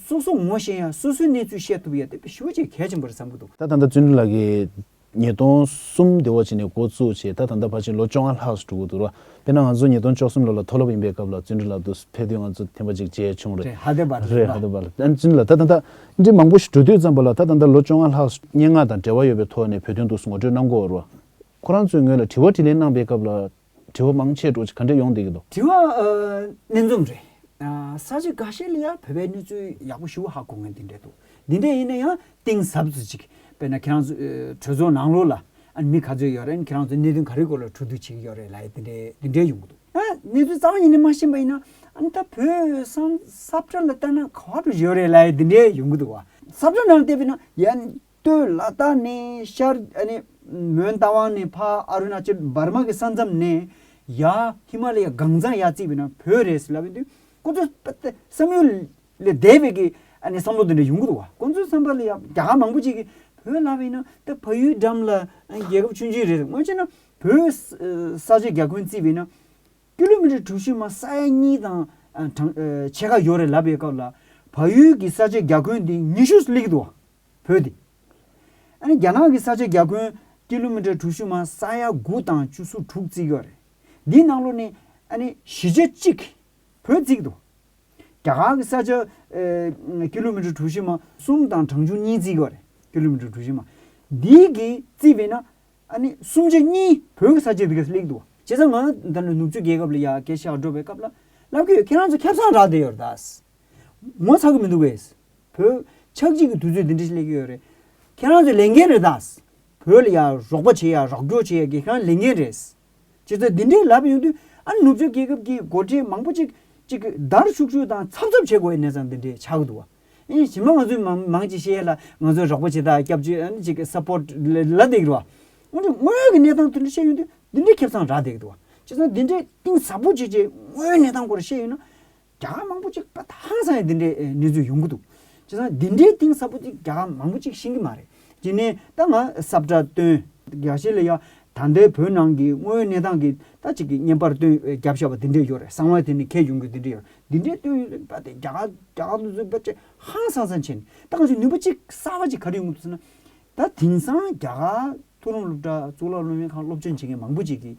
སོ་སོ་ངོ་ཤེས་ཡང་སོ་སོའི་གནས་ཚུལ་བཤད་ཐུབ་ཡ་དེ་བེད་ཞུ་བྱེད་གལ་ཆེན་པོ་རེད་བསམ་གི་འདུག། ད་ད་ལྟ་བརྩོན་འགྲུས་ལགས་ཀྱིས་ཉིས་སྟོང་གསུམ་དེ་འོག་བྱས་ནས་འགོ་བཙུགས་བྱས་ད་ད་ལྟ་བར་ཕྱིན་ལོ་བཅོ་ལྔ་ལྷག་སུ་འགྲོ་གི་འདུག་ར་དཔེར་ན་ང་ཚོ་ཉིས་སྟོང་བཅོ་གསུམ་ལོ་ལ་མཐོ་སློབ་ཡིན་པའི་སྐབས་ལ་བརྩོན་འགྲུས་ལགས་འདུག་ཕེབས་དུས་ང་ཚོ་ཐེངས་པ་གཅིག་མཇལ་བྱུང་རེད། རེད་ཧ་དེ་བ་རེད་རེད་ཧ་དེ་བ་ལ། བརྩོན་འགྲུས་ལགས་ད་ད་ལྟ་འབྲེལ་མང་པོ་ཞིག་གྲོས་བསྡུར་བརྩམས་པ་ལ་ད་ལྟ་འདིར་ལོ་བཅོ་ལྔ་ལྷག་སྙན་ངག་དང་འབྲེལ་བ་ཡོད་པའི་ཐོག་ནས་བོད་དོན་ཐོག་ངོ་སྤྲོད་གནང་སྐོར། ཁོ་རང་ཚོས་ངོས་ལ་དྲི་བ་དྲིས་ལན་གནང་པའི་སྐབས་ལ། དྲི་བ་མང་ཆེ་དྲོ་ཆེ་ག་འདྲས་ཡོང་སྡད་ཀྱི་འདུག། དྲི་བ། སྣེ་འཛོམས་རེད། ས་གཞི་འགའ་ཤས་ལ་ཡང་བོད་པའི་གནས་ཚུལ་ཡག་པོ་ཞུ་བ་ཧ་གོ་ངེས་འདི་འདྲས་འདུག་འདི་འདྲས་ཡིན་ན་ཡང་གཏིང་ཟབ་ཅིག་དཔེར་ན་ཁྱེད་རང་ཚོས་གྲོས་ཚོགས་ནང་ལོགས་ལ་ཨ་ནི་ག་ཚོད་ཡོད་རེད་ཁྱེད་རང་ཚོ་གནད་དོན་ག་རེའི་སྐོར་ལ་འཁྲུག་རྡུག་བྱེད་ཀྱི་ཡོད་རེད་ལ་དེ་འདྲའི་དེ་འདྲའི་ཡོང་གི་འདུག་ཨ་གནད་དོན་གཙང་བ་ཡིན་ནི་མ་ཤེས་པ་ཡིན་ན་ཨ་ནི་ད་བོད་སང་ས་བཀྲ་ལ་བལྟ་ན་ག་བ་འགྲོ་ཡོད་རེད་ལ་དེ་འདྲའི་ཡོང་གི་འདུག་བ་ས་བཀྲ་ནང་བལྟས་པས་ན་ཡ་སྟོད་ལ་དྭགས་ནས་ཤར་ཨ་ནི་མོན་རྟ་དབང་ནས་ཕ་ཨ་རུ་ན་ཅལ་འབར་མ་གི་ས་མཚམས་ནས་ཡ་ཧི་མ་ལ་ཡའི་གངས་ཚང་ཡ་བརྩིགས་པས་ན་བོད་རེད་ཟེར་ལབ་པའི་དུས་སྐུ་དྲག་པ་སྟེ་བསམ་ཡུལ་ལས་འདས་པའི་གི་ཨ་ནི་བསམ་བློ་དེ་འདྲ་ཡོང་གི་འདུག་བ་ཁོང་ཚོའི་བསམ་པ་ལ་ཡང་རྒྱ་གར་མང་པོ་ཅིག་གིས་བོད་ལ་བས་ན་ད་ཕ་ཡུལ་འགྲམ་ལ་རྒྱལ་ཁབ་ཆུང་ཆུང་རེད་སྔོན་ཆད་ན་བོད་ས་ཆ་རྒྱ་ཁུན་བརྩིས་པས་ན་ཀི་ལོ་མི་ཀྲི་གྲུ་བཞི་མ་ས་ཡ་གཉིས་དང་གྲངས་ཕྱེད་ཀ་ཡོད་རེད་ལབ་པའི་སྐབས་ལ་ཕ་ཡུལ་གི་ས་ཆ་རྒྱ་ཁུན་དེ་ཉི་ཤུ་སླེབས་ཀྱི་འདུག་བ་བོད་དེ་ཨ་ནི་རྒྱ་ནག་གི་ས་ཆ་རྒྱ་ཁུན་ཀི་ལོ་མི་ཀྲི་གྲུ་བཞི་མ་ས་ཡ་དགུ་དང་བཅུ་སོ་དྲུག་བརྩིས་ཀྱི་བ་རེད་འདིའི་ནང་ལོ་ནས་ཨ་ནི་བཞི་ཆ་གཅིག་བོད་བརྩིས་ཀྱི་འདུག། རྒྱ་གར་གྱི་ས་ཆ Kilometer གྲུ་བཞི་མ་གསུམ་དང་གྲངས་ཆུང་གཉིས་བརྩིས་པ་རེད Kilometer གྲུ་བཞི་མ། འདི་གིས་བརྩིས་པས་ན་ཨ་ནི་སུམ་ཆ་གཉིས་བོད་ཀྱི་ས་ཆའི་རིགས་ལེགས་འདུག། བྱས་ཙང་ང་ད་ནི་ནུབ་ཕྱོགས་རྒྱལ་ཁབ་ལ་ཡ་གེ་ཤ་སྒྲོག་པའི་སྐབས་ལ་ལབ་ཀྱི་ཡོད་ཁྱེད་རང་ཚོ་ཁྱབ་ཚང་རག་བསྡད་ཡོད་རེད་ད། ངོ་ཚ་གི་མི་འདུག་བས། བོད་ཆགས་འཇིག་གི་དུས་ཚོད་འདི་འདྲ་ཞིག་སླེབས་ཀྱི་ཡོད་རེད། ཁྱེད་རང་ཚོས་ལས་འགན་རེད་ད། བོད་ལ་ཡ་རོགས་པ་བྱེད་ཡ་རོགས་སྐྱོར་བྱེད་ཡ་གི་ཁྱེད་རང་ལས་འགན་རེད། ཁྱེད་ཚོས་འདི་འདྲའི་ལབ་ཡོང་དུས་ཨ་ནུབ་ཕྱོགས་རྒྱལ་ཁབ་ཀྱི་སྒོར་ཁྲལ་མང་པོ་ཅིག་ཅིག་བརྡར་ཤུག་ཤུག་དང་ཚབ་ཚབ་བྱེད་དགོས་པའི་གནས་ཚང་འདི་འདྲའི་ཆགས་འདུག་བ། གཞི་མ་ང་ཚོའི་མང་ཅིག་ཤེས་ཡས་ལ་ང་ཚོའི་རོགས་པ་བྱེད་དང་སྐྱབས་བཅོལ་ཨ་ཅིག support ལ་འདེགས་འགྲོ་བ། འོན་ཀྱང་དངོས་ཡོད་ཀྱི་གནས་ཚང་དེ་འདྲ་བཤད་ཡོང་དུས་འདི་འདྲའི་ཁེབས་ཚང་རག་འདེགས་འདུག་བ། ཁྱེད་ཚང་འདི་འདྲའི་གཏིང་ཟབ་པོ་ཅིག་ཅིག་དངོས་ཡོད་གནས་ཚང་སྐོར་བཤད་ཡོང་ན། རྒྱ་གར་མང་པོ་ཅིག་དེང་སང་ཡང་འདི་འདྲའི་གནས་ཚུལ་ཡོང་གི་འདུག་བྱས་ཙང་འདི་འདྲའི་གཏིང་ཟབ་པོ་ཅིག་རྒྱ་གར་མང་པོ་ཅིག་ཤེས་ཀྱི་མ་རེད་དེ་ནས་ད་ང་སབ་སྒྲ་སྟོན། རྒྱ་ཆེ་ལ་ཡ་ད་ལྟའི་བོད་ནང་གི་དངོས་ཡོད་གནས་སྟངས་ཀྱི་ད་ཅིག་གི་བརྙན་པར་སྟོན་རྒྱབ་ཤ་བ་འདི་འདྲའི་ཡོད་རེད་གསང་བ་དེ་ནས་ཁྱེད་ཡོང་གི་འདི་འདྲའི་ཡོད་རེད་འདི་འདྲའི་སྟོན་ཡོད་རེད་པ་དེ་རྒྱ་གར་རྒྱ་གར་དུ་ཚུད་པ་ཅིག་ཧང་སང་སང་བྱས་ནས་ད་ང་ཚོས་ནུས་པ་ཅིག་གསར་བ་ཅིག་ག་རེ་ཡོང་གི་འདུག་ཟེར་ན། ད་དེང་སང་རྒྱ་གར་ཐུགས་རུང་སློབ་གྲྭ་གཙུག་ལག་སློབ་གཉེར་ཁང་སློབ་སྦྱོང་བྱེད་མཁན་མང་པོ་ཅིག་གིས།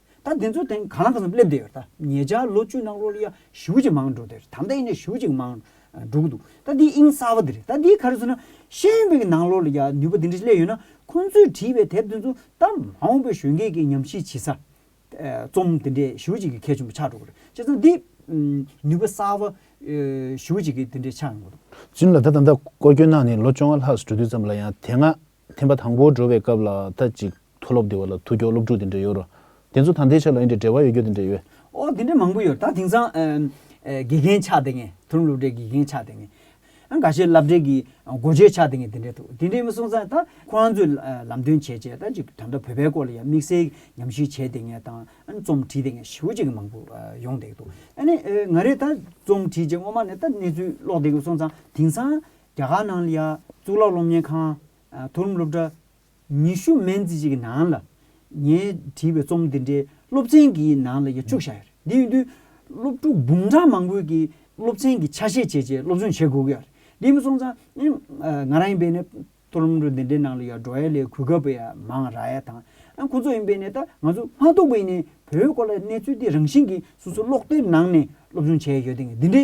ད་འདི་ཚོ་དེང་གང་ལ་གང་འཚམ་སླེབས་བསྡད་ཡོད་རེད་ད་ངེད་ཅག་ལོ་བཅུ་ནང་རོ་ལི་ཡ་བཞུགས་ཅིག་མང་འགྲོ་བསྡད་རེད་དམ་ད་ཡིན་ནའི་བཞུགས་ཅིག་མང་འགྲོ་གི་འདུག་ད་འདི་དབྱིངས་གསར་བ་འདི་རེད་ད་འདིའི་ག་རེ་ཚོ་ན་ཤེས་ཡོན་པའི་གི་ནང་ལོ་ལི་ཡ་ནུས་པ་འདི་འདྲ་ཞིག་སླེབས་ཡོད་ན་ཁོང་ཚོས་བྲིས་པའི་དེབ་དེ་ཚོ་ད་མ་འོངས་པའི་གཞོན་སྐྱེས་ཀྱི་ཉམས་ཞིབ་བྱེད་ས་རྩོམ་དེ་འདྲས་བཞུགས་ཅིག་གི་གལ་ཆེན་པོ་ཆགས་འགྲོ་གི་རེད་བྱས་ཙང་འདི་ནུས་པ་གསར་བ་བཞུགས་ཅིག་གི་འདི་འདྲས་ཆགས་ཡོང་གི་འདུག། གཅིན་ལ་ད་ད་ལྟ་སྐོར་སྐྱོད་གནང་ནས་ལོ་བཅོ་ལྔ་ལྷག་སུ་འགྲོ་དུས་ཙམ་ལ་ཡང་དེ་སྔ་ཐེངས་པ་དང་པོར་འགྲོ་བའི་སྐབས་ལ་ད་ཅིག་མཐོ་སློབ་འདི་བ་ལ་ཐུག་སྐྱོ་སློབ་ཕྲུག་དེ་འདྲ་ཡོད་རོ། དེ་ཚོ་དང་དེའི་ཆ་ལ་ཡིན་དྲི་བྲལ་བ་ཡོད་རྒྱུ་དེ་འདྲ་ཡོད། ཨོ་དེ་འདྲ་མང་པོ་ཡོད་ད་དེང་སང་དགེ་རྒན་ཆགས་དེ་ངས་དོ་ནུབ་སློབ་གྲྭའི་དགེ་རྒན་ཆགས་དེ་ངས། ཨ་འགའ་ཤས་བསླབ་གྲྭའི་གི་སྒོ་འབྱེད་ཆགས་དེ་ངས་དེ་འདྲ་འདུག་དེ་འདྲའི་མི་སོང་སང་ད་ཁོ་རང་ཚོས་ལམ་སྟོན་བྱས་བྱས་ད་ཅིག་ད་ལྟ་བོད་པའི་སྐོར་ལ་ཡང་དམིགས་བསལ་ཉམས་ཞིབ་བྱས་དེ་ངས་དང་རྩོམ་བྲིས་དེ་ངས་ཞེ་བོ་ཅིག་མང་པོ་ཡོང་བསྡད་འདུག་ཨ་ནི་ང་རས་ད་རྩོམ་བྲིས་རྗེས་སྔོན་མ་ནས་ད་གནས་ཚུལ་ཀློག་བསྡད་སོང་སང་དེང་སང་རྒྱ་གར་ནང་ལ་ཡ། གཙུག་ལག་སློབ་གཉེར་ཁང། མཐོ་རིམ་སློབ་གྲྭ། ཉི་ཤུ་མན་ཙི་ཅིག་གི་ནང་ལ། ངས་བྲིས་པའི་རྩོམ་འདི་འདྲའི་སློབ་ཚན་གྱི་ནང་ལ་ཡ་བཅུ་བཞག་ཡོད་རེད། འདི་ཡོང་དུས། སློབ་ཕྲུག་འབུམ་ཕྲག་མང་པོས་ཀྱིས་སློབ་ཚན་གྱི་ཆ་ཤས་བྱས་རྗེས་སློབ་སྦྱོང་བྱེད་དགོས་ཀྱི་ཡོད་རེད། འདི་མ་སོང་ཙང། ང་རང་ཡིན་པའི་ནས། མཐོ་རིམ་སློབ་གྲྭ་འདི་འདྲའི་ནང་ལ་ཡ་འགྲོ་ཡ་ལས་གུས་སྐབས་པ་ཡ་མང་ར་ཡ་དང། ཁོ་ཚོ་ཡིན་པའི་ནས་ད་ང་ཚོ་མ་གཏོགས་པའི་ནས་བོད་སྐོར་ལ་གནས་ཚུལ་འདི་རང་བཞིན་གྱིས་སོ་སོ་ཀློག་དེབ་ནང་ནས་སློབ་སྦྱོང་བྱས་ཡོད་དེ། འདི་འདྲའི།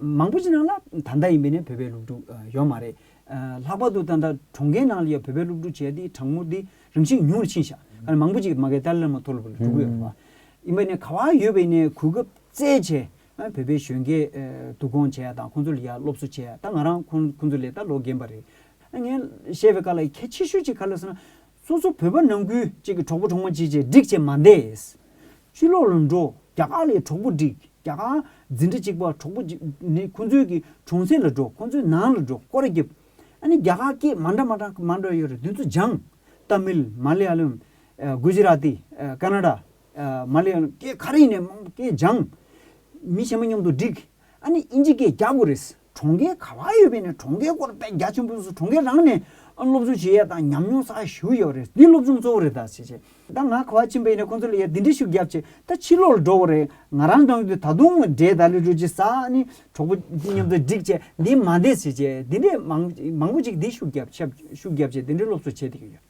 མང་པོ་ཅི་ནང་ལ་ད་ལྟ་ཡིན་པའི་ནས་བོད་པའི་སློབ་ཕྲུག་ཡོད་མ་རེད། ལྷག་པར་དུ་ད་ལྟ་གྲོང་ཁྱེར་ནང་ལ་ཡོད་བོད་པའི་སློབ་ཕྲུག་བྱས་དེ་གྲངས་འབོར་དེ་རིམ་བཞིན་ཉུང་རུ་ཕྱིན་ཤག་ཁ་ན་མང་པོ་ཅིག་མ་གའི་ཏཱ་ལའི་བླ་མ་མཐོ་སློབ་ལ་འགྲོ་གི་ཡོད་པ། ཡིན་པའི་ནས་ག་བ་ཡོད་པའི་ནས་གོ་སྐབས་བཙལ་བྱས་བོད་པའི་གཞོན་སྐྱེས་བསྡུ་སྐོང་བྱས་ཡ་དང་ཁོང་ཚོ་ལ་ཡ་སློབ་གསོ་བྱས་ཡ་ད་ང་རང་ཁོང་ཁོང་ཚོ་ལས་ད་ལོ་རྒན་པ་རེད། ངས་བཤད་པའི་ཁ་ལ་ཡི་གེ་ཆེ་ཤོས་ཅིག་ག་ལ་ཟེར་ན། སོ་སོ་བོད་པ་ནང་ཁུལ་གཅིག་གི་གྲོགས་པོ་གྲོགས་མ་གཅིག་བཅས་སྒྲིག་བྱེད་མ་འདས། ཕྱི་ལོགས་ལ་འགྲོ་རྒྱ་གར་ལའི་གྲོགས་པོ་སྒྲིག་རྒྱ་གར་འཛིན་གྲྭ་གཅིག་པ་གྲོགས་པོ་ནི་ཁོང་ཚོའི་གི་གྲོང་གསེབ་ལ་འགྲོ་ཁོང་ཚོའི་ནང་ལ་འགྲོ་སྐོར་བརྒྱབ། ཨ་ནི་རྒྱ་གར་སྐད་མ་འདྲ་མ་འདྲ་མ་འདྲ་ཡོད་རེད་དུས་ཚོད་སྦྱངས། རྟ་མིལ། མ་ལེ་ཡ་ལུམ། གུ་ཇི་ར་ཏི། ཀ་ན་ར། མ་ལེ་ཡ་ལུམ་སྐད་ག་རེ་ཡིན་ནས་མང་པོ་སྐད་སྦྱངས། མི་གཞན་པ་མཉམ་དུ་སྒྲིག། ཨ་ནི་དབྱིན་ཇི་སྐད་རྒྱག་དགོས་རེད། གྲོང་ཁྱེར་ག་ལ་ཡོད་པའི་ནས་གྲོང་ཁྱེར་སྐོར་དཔེ་རྒྱ་ཆེན་པོ་སུ་གྲོང་ཁྱེར་རང་ནས་སློབ་སྦྱོང་བྱེད་ཡས་དང་ཉམས་མྱོང་ས་ཞུ་ཡས་རེད་འདི་སློབ་སྦྱོང་གཙོ་བོ་རེད་ད་བྱས་བྱས་ད་ང་ག་བ་ཕྱིན་པའི་ནས་ཁོང་ཚོ་ལ་ཡས་འདི་འདྲི་ཞུ་རྒྱབ་བྱས་ད་ཕྱི་ལོག་ལ་འགྲོ་གོ་རེད་ང་རང་རང་དུས་ད་དུང་འདྲེ་ད་ལི་རུ་ཇི་ས་ནི་གྲོགས་པོ་ཇི་མཉམ་དུ་འགྲིག་བྱས་འདི་མ་འདས་བྱས་བྱས་འདི་འདྲེ་མང་མང་པོ་ཅིག་འདི་ཞུ་རྒྱབ་ཞབས་ཞུ་རྒྱབ་བྱས་འདི་འདྲེ་སློབ་གསོ་བྱས་བསྡད་ཀྱི་ཡོད།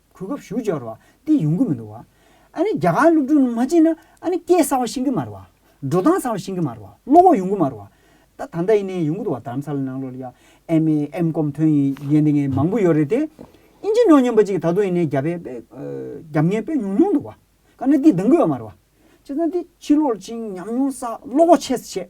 གོ་སྐབས་ཞུ་སྦྱོར་བ་འདི་ཡོང་གི་མི་འདུག་བ། ཨ་ནི་རྒྱ་གར་སློབ་ཕྲུག་རྣམས་མ་བྱིན་ན་ཨ་ནི་སྐད་གསར་བ་ཤེས་ཀྱི་མ་རེད་བ། འགྲོ་སྟངས་གསར་བ་ཤེས་ཀྱི་མ་རེད་བ་བློ་ཁོག་ཡོང་གི་མ་རེད་བ། ད་ད་ལྟ་ཡིན་ནའི་ཡོང་གི་འདུག་བ་དརམ་ས་ལ་ནང་ལོ་ལ་ཡ་ཨེམ་མེ་ཨེམ་ཀོམ་ཐོན་ཡིན་ཡན་དེ་ངས་མང་པོ་ཡོད་རེད་དེ། ཨིན་ཇི་ནོ་སྙམ་པ་ཅིག་ད་དུང་ཡིན་ནའི་རྒྱ་བལ་པའི་རྒྱབ་ངལ་སྤོད་མྱོང་མྱོང་འདུག་བ། ཀ་ན་འདི་འདང་གི་ཡོད་མ་རེད་བ། བྱས་ཙང་འདི་ཕྱི་ལོག་ཅིང་ཉམས་མྱོང་བསགས་བློ་ཁོག་ཆེ་སེ་བྱས།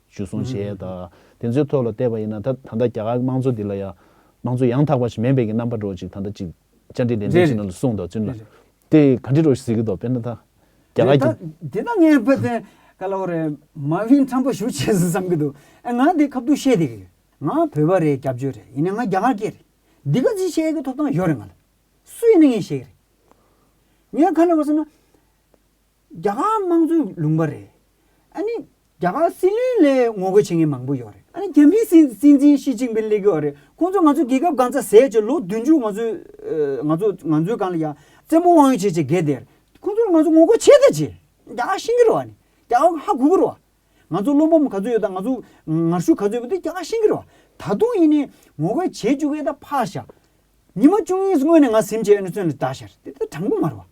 ཞུ་གསུང་བྱས། དེ་ཚོའི་ཐོག་ལ་བལྟས་པ་ཡིན་ན་ད་ད་ལྟ་རྒྱ་གར་དམངས་གཙོ་འདི་ལ་ཡང་དམངས་གཙོ་ཡང་དག་པ་ཞིག་མེད་པའི་གི་རྣམ་པ་འགྲོ་ཅིག་ད་ལྟ་ཅིག་བཅར་འདྲི་ལན་འདྲི་བྱེད་ན་ལ་གསུང་དང་བཙུན་ལ་དེ་ག་འདྲི་རོགས་ཞིག་ཟེར་གི་འདུག་དཔེར་ན་ད་རྒྱ་གར་གི། དེ་ད་ངས་བོད་དོན་ག་ལ་བོ་རེད་མ་བྷིན་ཁྲམ་པ་ཞུ་བྱེད་བསམ་གི་འདུག་ཨ་ང་དེ་ཁ་བསྡུར་བཤད་དེ་གི་ང་བོད་པ་རེད་སྐྱབས་བཅོལ་རེད་ཡིན་ན་ང་རྒྱ་གར་སྐྱེས་རེད་འདི་ག་ཅིག་བཤད་གི་ཐོབ་ཐང་ཡོད་རེད་ང་ལ་སུ་ཡིན་ན་ངས་བཤད་གི་རེད་ངས་ག་ལ་བོ་ཟེར་ན། རྒྱ་གར་དམངས་གཙོའི་ལུང་པ་རེད། ཨ་ནི། རྒྱ་གར་སྲིད་བློན་ལས་ངོ་རྒོལ་བྱེད་མཁན་མང་པོ་ཡོད་རེད། ཨ་ནི་རྒྱ་མིའི་སྲིད་སྲིད་འཛིན་ཞི་ཅིང་པིན་ལས་གོ་རེད། ཁོང་ཚོས་ང་ཚོའི་རྒྱལ་ཁབ་གང་ཚ་ཟས་བྱས་ལོ་བདུན་ཅུ་ང་ཚོས། ང་ཚོས་ང་ཚོའི་གང་ལ་ཡང་བཙན་པོ་དབང་ཡོད་བྱས་བྱས་འགལ་འདེར། ཁོང་ཚོར་ང་ཚོ་ངོ་རྒོལ་བྱེད་དང་བྱེད། རྒྱ་གར་ཤིང་གི་རོ་ཨ་ནི། རྒྱ་གར་ཧ་གོ་གི་རོ། ང་ཚོ་བློན་པོ་ག་ཚོད་ཡོད་དང་ང་ཚོ་ངར་ཤུགས་ག་ཚོད་ཡོད་པ་དེ་རྒྱ་གར་ཤིང་གི་རོ། ད་དུང་ཡིན་ནའི་ངོ་རྒོལ་བྱེད་བཅུག་གི་ད་ཕར་བཞག། ཉི་མ་བཅུ་གཉིས་སྔོན་ནས་ང་ཟིམ་བྱས་ཨ་ནི་བཙོན་ལ་བདའ་ཤར་དེ་ད་དྲང་པོ་མ་རེད་བ།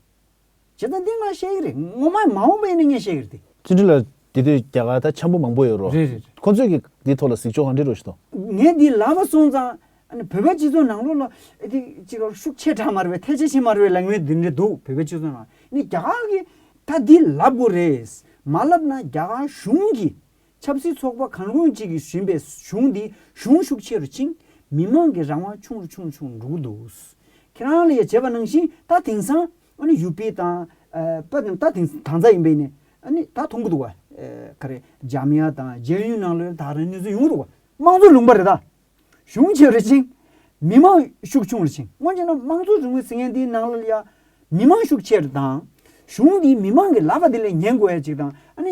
བྱས་ཙང་འདི་ང་བཤད་ཀྱི་རེད་ངོ་མ་མ་འོངས་པ་ཡིན་ན་ངས་བཤད་ཀྱི་རེད་དེ། ཚུལ་ཁྲིམས་ལགས་འདི་དུས་རྒྱ་གར་ད་ཆམ་པོ་མང་པོ་ཡོད་རོ། རེད་རེད། ཁོ་ཚོས་ཀྱིས་འདི་ཐོག་ལ་གཟིགས་ཕྱོགས་གང་འདྲི་རོ་ཞུ་དང། ངས་འདི་ལབ་པ་སོང་ཙང་བོད་པ་སྤྱི་ཚོགས་ནང་ལོགས་ལ་འདི་གཅིག་ལ་ཤུགས་ཆེ་དྲགས་མ་རེད་པས་ཐལ་ཆེ་བྱེད་མ་རེད་པའི་ལངས་དབྱེ་འདི་འདྲ་འདུག་བོད་པའི་སྤྱི་ཚོགས་ནང་ནི་རྒྱ་གར་གྱི་ད་འདི་ལབ་དགོས་རེད། མ་ལབ་ན་རྒྱ་གར་གཞུང་གིས་ཆབ་སྲིད་ཚོགས་པ་གང་རུང་གཅིག་གིས་ཟིན་པའི་གཞུང་འདིས་གཞུང་ཤུགས་ཆེ་རུ་ཕྱིན། མི་དམངས་ཀྱི་རང་དབང་ཆུང་རུ་ཆུང་རུ་ཆུང་རུ་འགྲོ་གི་འདུག། ཁྱེད་རང་ལ་ཡ་བྱེད་པ་ནང་བཞིན་ད་དེང་སང། ཨ་ནི་ཡུ་པེ་དང། པ་རྣམས་ད་དེང་སང་དྭངས་གཙང་ཡིན་པས་ནི། ཨ་ནི་ད་མཐོང་གི་འདུག་བ། ཀ་རེ། འཇམ་དབྱངས་དང་རྒྱལ་ཡོངས་ནང་ལོའི་ད་རང་གནས་ཚུལ་ཡོང་གི་འདུག་བ། དམངས་གཙོ་ལུང་པ་རེད་ད། གཞུང་ཆེ་རུ་ཕྱིན། མི་དམངས་ཤུགས་ཆུང་རུ་ཕྱིན་སྔོན་ཆད་ན་དམངས་གཙོ་རིང་ལུགས་ཟེར་མཁན་དེའི་ནང་ལ་ཡ། མི་དམངས་ཤུགས་ཆེ་རུ་དང། གཞུང་འདིས་མི་དམངས་ཀྱི་ལབ་པ་དེ་ལས་ཉན་དགོས་ཡ་གཅིག་དང་ཨ་ནི།